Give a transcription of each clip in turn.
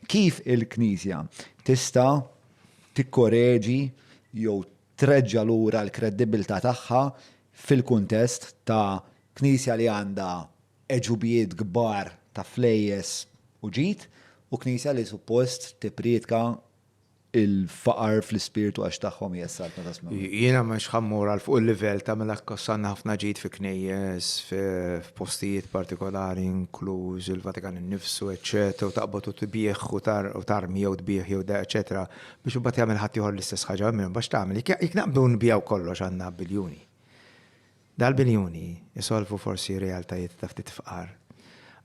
Kif il-Knisja tista' tikkoreġi jew treġġa' lura l-kredibbiltà tagħha fil-kuntest ta' Knisja li għandha għeġubijiet kbar ta' flejjes u ġid u Knisja li suppost tippriedka il-faqar fl-ispirtu għax tagħhom hija s-saltna ta' Smewwa. Jiena mhux ħa mmur għal fuq il-livell ta' mela kkossanna ħafna ġid fi knejjes, f'postijiet partikolari inkluż il-Vatikan innifsu, eċċetera, u taqbad u tbigħ u tarmi jew tbigħ jew da, eċċetera, biex imbagħad jagħmel ħaddieħor l-istess ħaġa, imma x'tagħmel? Jekk naqbdu nbiegħu kollox għandna biljuni. Dal-biljuni jsolvu forsi realtajiet ta' ftit fqar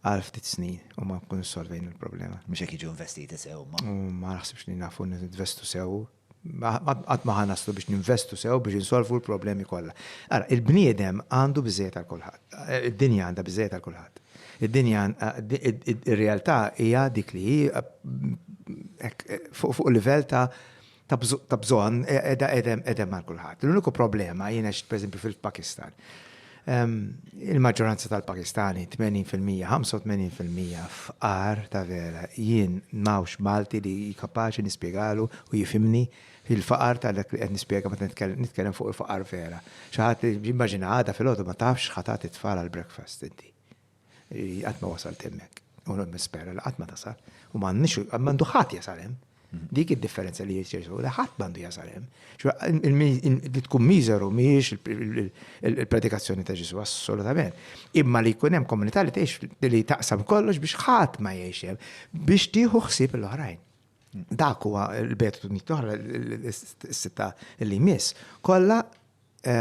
għal ftit snin u ma nkunux solvejna l-problema. Mhux jekk jiġu investiti sew imma. U ma naħsibx li nafu ninvestu sew. Qatt ma ħa naslu biex ninvestu sew biex insolvu l-problemi kollha. Ara, il-bniedem għandu biżżejjed għal kulħadd. Id-dinja għandha biżżejjed għal kulħadd. Id-dinja, ir-realtà hija dik li hi hekk fuq livell ta' ta' bżonn qiegħda qegħda mal kulħadd. L-uniku problema jiena pereżempju fil-Pakistan. Ehm, il-maġġoranza tal-Pakistani 80%, 85% f'qar ta' vera jien mawx Malti li kapaċi nispjegalu u jifimni il-faqar ta' dak li qed nispjega meta nitkellem fuq il-faqar vera. Xi ħadd immaġina għada fil-għodu ma tafx ħatat it-tfal għal breakfast inti. Qatt ma wasalt hemmhekk. U nispera li qatt ma tasal. U m'għandu ħadd jasal hemm. Mhm. Dik id-differenza li jirċersu, li ħadd m'għandu jasal hemm. Li tkun miżeru mhijiex il-predikazzjoni ta' Ġesu, assolutament. Imma li jkun hemm komunità li tgħix li taqsam kollox biex ħadd ma jgħix hemm, biex tieħu ħsieb l-oħrajn. Dak huwa l-betu nittoħra s-sitta li jmiss. Kollha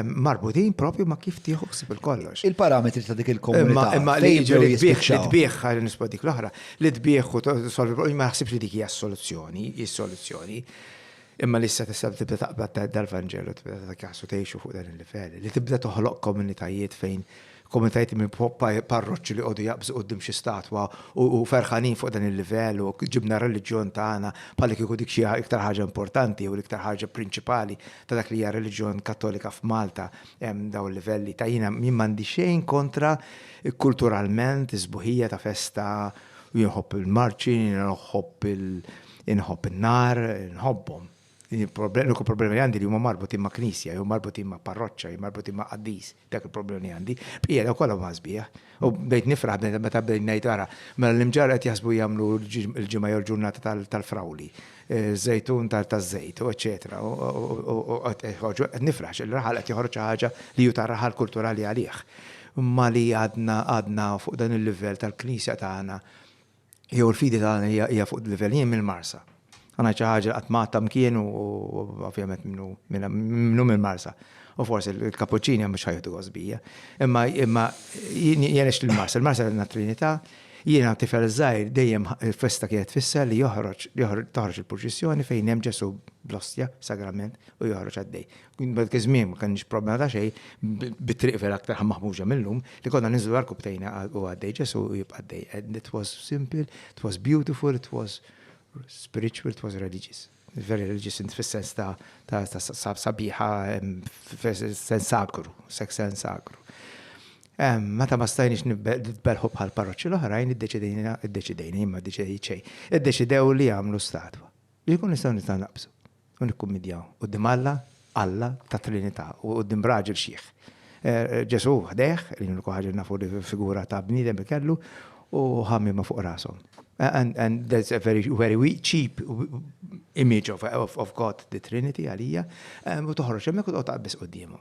marbutin propju ma kif tieħu ħsib il-kollox. Il-parametri ta' dik il-komunità. Imma li jiġu li tbieħ, li tbieħ, għal nisbod dik l-oħra, li tbieħ u solvi problemi, ma naħsibx li dik hija soluzzjoni, hija soluzzjoni. Imma li issa tista' tibda taqbad dal-Vanġelu tibda ta' kasu tgħixu fuq dan il-livell, li tibda toħloq komunitajiet fejn Komunitajiet minn parroċċi li jqogħdu jaqbżu quddiem xi statwa u ferħanin fuq dan il-livell u ġibna r-reliġjon tagħna bħalli kieku dik xi iktar ħaġa importanti jew l-iktar ħaġa prinċipali ta' dak li hija r-reliġjon Kattolika f'Malta hemm dawn il-livelli ta' jiena jien m'għandi xejn kontra kulturalment is-sbuħija ta' festa u jien nħobb il-marċi, jien nħobb il-, inħobb in-nar, inħobbhom. L-uniku problemi li għandi li huma marbutin ma' knisja jew marbutin ma' parroċċa jew marbutin ma' qaddis. Dak il-problemi li għandi. Bqija dawk kollha huma sbieħ. U bdejt nifraħ meta bdejt ngħid ara, mela l-imġarr qed jaħsbu jagħmlu l-Ġimgħa jew l-ġurnata tal-frawli, ż-żejtun taż-żejt u eċċetera u qed joħorġu, qed nifraħ għax ir-raħal qed joħroġ xi ħaġa li hu ta' raħal kulturali għalih. Imma li għadna fuq dan il-livell tal-knisja tagħna Jew l-fidi tagħna hija fuq livell jien mill-Marsa. Għana xi ħaġa qatt ma għatta mkien u ovvjament minnu minnu mill-Marsa. U forsi l-kapuċċini mhux ħajħdu għosbija. Imma imma jien jenex l-Marsa, l-Marsa għandna Trinità, jiena tifel żgħir dejjem festa kienet fissa li joħroġ toħroġ il-purċissjoni fejn hemm Ġesu bl-ostja, sagrament, u joħroġ għaddej. Bad kizmim, ma kenniex problema ta' xej, bit-triq vera aktar maħmuġa mill-lum, li konna ninżlu l-arku btejna u għaddej ġesu u jibqa' għaddej. And it was simple, it was beautiful, it was spiritual, it was religious. Very religious in fis-sens ta' sabiħa, sens sagru, sex sens sagru. Meta ma stajniex nitbelħu bħal parroċċi l-oħrajn, id-deċidejna, id-deċidejna, imma deċidejt xej, id-deċidew li għamlu statwa. Li jkun nistaw nistaw naqbsu. u nikkummidjaw quddiem Alla, Alla tat-Trinità, u quddiem raġel xiħ. Ġesù ħdejh, li l-unika ħaġa li nafu li figura ta' bniedem li kellu, u ħammiema fuq rashom. And that's a very, very weak, cheap image of, of God, the Trinity għalija, u toħroġ hemmhekk u toqgħod taqbeż quddiemhom.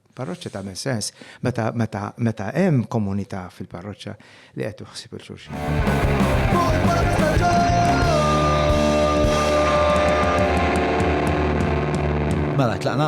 Parroċċa tagħmel sens meta meta meta hemm komunità fil-parroċċa li qed tuħsib il xulxin. Mela tlaqna.